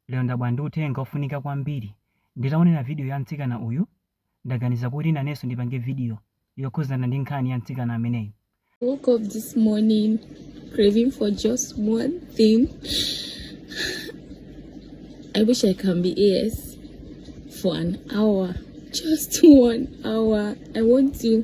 Lero ndabwera ndi uthenga ofunika kwambiri. Nditaonera video ya mtsikana uyu, ndaganiza kuti nanenso ndipange video yokhuzana ndi nkhani ya mtsikana ameneyu. Woke up this morning craving for just one thing. I wish I can be AS for an hour, just one hour. I want to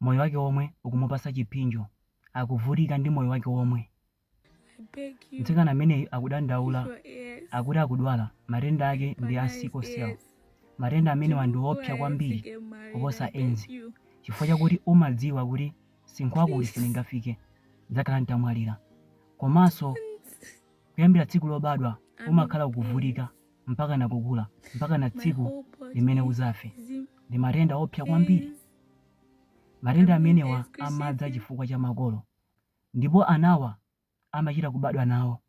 moyo wake omwe ukumupasa chiphinjo akuvutika ndi moyo wake omwe mtsikana ameneyu akudandaula akuti akudwala matenda ake ndi a sickle cell matenda amenewa ndi opsa kwambiri kuposa edzi chifukwa chakuti umadziwa kuti msinkhu wakuti sindingafike ndidzakhala nditamwalira komanso kuyambira tsiku lobadwa umakhala ukuvutika mpakana kukula mpakana tsiku limene uzafe ndi matenda opsa kwambiri matenda amenewa amadza chifukwa cha makolo ndipo anawa amachita kubadwa nawo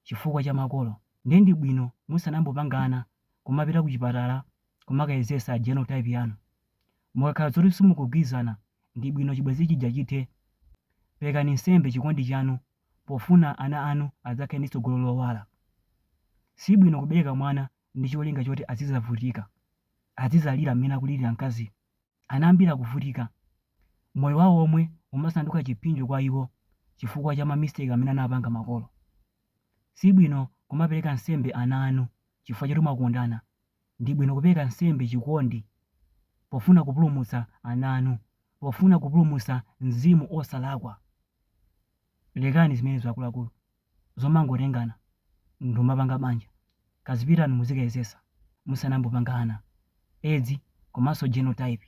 chifukwa cha makolo ndiye ndi bwino musanambopanga ana kumapita ku chipatala kumakayezesa genotype yanu mukakhala zoti simukugwirizana ndi bwino chibwenzi chija chithe perekani nsembe chikondi chanu pofuna ana anu adzakhale ndi tsogolo lowala. Si bwino kubereka mwana ndi cholinga choti azidzavutika, azidzalira mmene akulilira mkaziyu. Ana ambiri akuvutika. Moyo wawo omwe umasanduka chiphinjo kwa iwo chifukwa cha mamisteki amene anapanga makolo. Si bwino kumapereka nsembe ana anu chifukwa choti mwakondana Ndi bwino kupereka nsembe chikondi pofuna kupulumutsa ana anu, pofuna kupulumutsa mzimu osalakwa. Lekani zimenezo akuluakulu zomangotengana n'kumapanga banja. Kazipitani muzikayezetsa musanambopanga ana. Edzi komanso genotype.